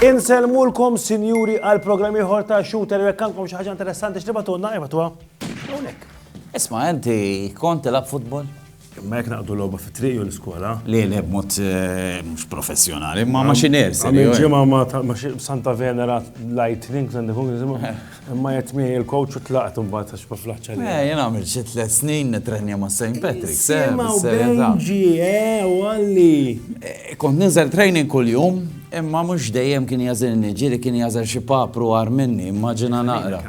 Inselmulkom sinjuri għal programmi ieħor ta' shooter jekk għandkom xi ħaġa interessanti x'tibatunna ibatuha. Hawnhekk. Isma' inti kont tilab futbol? Imma jekk naqdu logħba fit-triq jew l-iskola. Le, le, b'mod mhux professjonali, imma ma xi nersi. Għamil ġimgħa ma Santa Venera Lightning, Santa Kung, imma jett miegħi il-coach u tlaqt imbagħad għax ma flaħċa li. Eh, jien għamil xi tliet snin nitrenja ma' St. Patrick's. Imma Benji, eh, u għalli. Eh, kont ninżel training kuljum, imma mhux dejjem kien jażilni, ġieli kien jażel xi papru għar minni, immaġina naqra.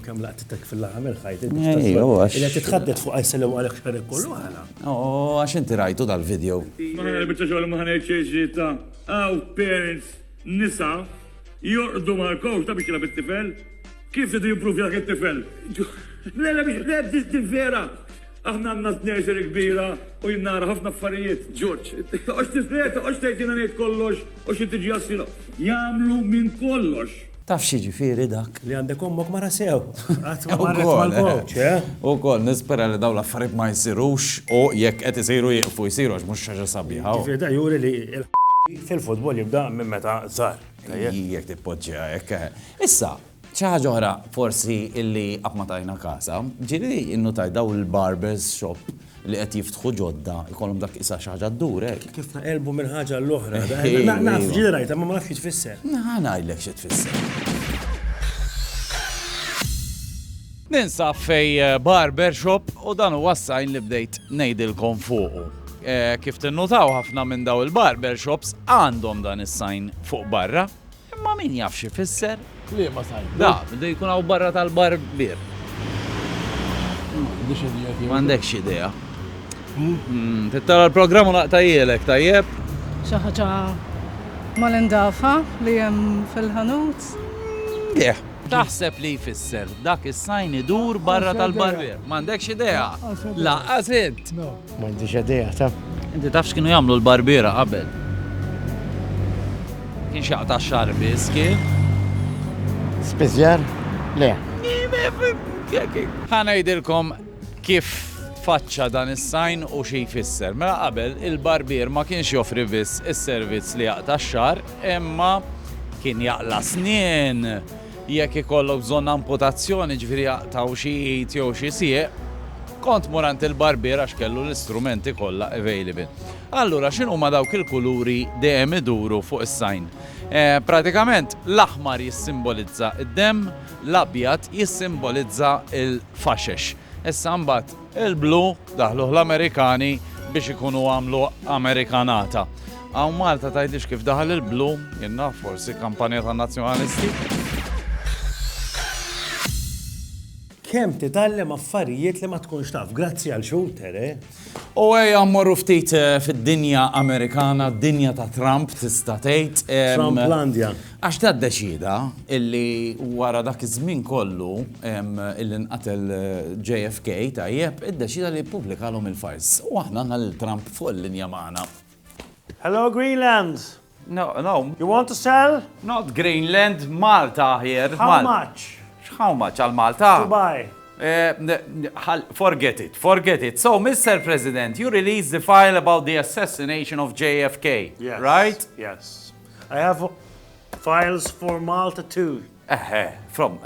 Kemm laqt Dak fil-laħam mill ħajt il bista Ejja, u għax. Illa titħaddet fuq għajsa li għalek xar kollu għala. U għax inti rajtu dal-video. Ma ħana bieċa xogħol ma ħana jċeġi ta' għaw parents nisa jorqdu mal kowx ta' bieċa bit-tifel. Kif idu jimpruvja dak it-tifel? Le, le, biex, le, biex vera. Aħna għandna t-tnejser kbira u jien nara ħafna affarijiet, George. Toqgħodx tistrieħ, toqgħodx tgħid jiena ngħid kollox u xi tiġi għas-sira. Jagħmlu minn kollox. Taf x'jiġifieri dak? Li għandek ommok mara sew. Qatt ma marret mal-gowċ, eh? Ukoll, nispera li dawn l-affarijiet ma jsirux u jekk qed isiru jieqfu jsiru għax mhux xi ħaġa sabiħa. Jiġifieri dan juri li l-ħ fil-futbol jibda minn meta żgħar. Jekk tippoġġiha hekk, eh. Issa, Xi ħaġa oħra forsi illi qatt ma tajna kasha, ġieli nnutajt dawn il-barbers shop li qed jiftħu ġodda jkollhom dak qisha xi ħaġa ddur hekk. Kif naqilbu minn ħaġa għal oħra. Naf, ġieli rajtha imma ma nafx xi tfisser. Ħa ngħidlek xi tfisser. Ninsab fej barber shop u dan huwa s-sign li bdejt ngħidilkom fuqu. Kif tinnutaw ħafna minn dawn il-barber shops għandhom dan is-sign fuq barra. Imma min jaf x'ifisser? Kliema tajba. Da, bdu jkun hawn barra tal-barbier. M'għandix idea tiegħu. M'għandekx idea. Tittara l-programm u naqta' jgħilek, tajjeb? Xi ħaġa mal-indafha li hemm fil-ħanut? Leh. Taħseb li jfisser, dak is-sign idur barra tal-barbier? M'għandekx idea? Lanqas int? M'għandix idea ta. Inti taf x'kienu jagħmlu l-barbiera qabel? Kienx jaqta' x-xagħar biss, kien? Spiżjar? Le. Ħa ngħidilkom kif tfaċċa dan is-sajn u xi jfisser. Mela qabel il-barbier ma kienx joffri biss is-servizz li jaqta' x-xagħar, imma kien jaqla' snien, Jekk ikollok bżonn amputazzjoni, jiġifieri jaqtgħu xi id jew xi sieq, kont tmur għand il-barbier għax kellu l-istrumenti kollha available. Allura x'inhuma dawk il-kuluri dejjem iduru fuq is-sign? Pratikament l-aħmar jissimbolizza d-demm, l-abjad jissimbolizza l-faxex. Issa mbagħad Il-blu daħluh l-Amerikani biex ikunu għamlu Amerikanata. Hawn Malta tgħidlix kif daħal il-blu, jien naf forsi kampanja tan-Nazzjonalisti. kemm titgħallem affarijiet li ma tkunx taf. Grazzi għal xulter, eh? U ejja mmorru ftit eh, fid-dinja Amerikana, dinja ta' Trump tista' tgħid. Trumplandja. Għax ta' ddeċieda illi wara dak iż-żmien kollu illi nqatel JFK, tajjeb, iddeċieda li jippubblikalhom il-files. U aħna għandna lil Trump fuq il-linja magħna. Hello Greenland! No, no. You want to sell? Not Greenland, Malta aħjer. How much? X'how much għal Malta? To buy. Forget it, forget it. So, Mister President, you released the file about the assassination of JFK, right? Yes, yes. I have files for Malta too. Eħe, from,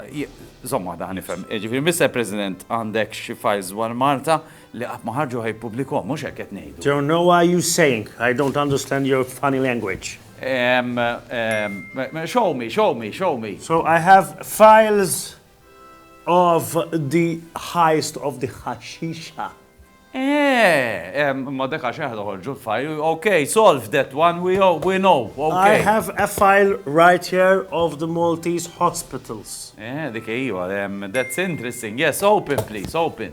zomma da nifem, ġifir, Mr. President, għandek xi files dwar Malta li qatt ma ħarġu ħaj publiko, mhux hekk qed ngħidu. Don't know what you saying. I don't understand your funny language. Um, um, show me, show me, show me. So I have files of the highest of the ħaxixa. Eeh, imma dak għax aħna noħorġu l-file, ok, solve that one, we all, we know, ok. I have a file right here of the Maltese hospitals. Eeh, dik ejwa, that's interesting, yes, open please, open.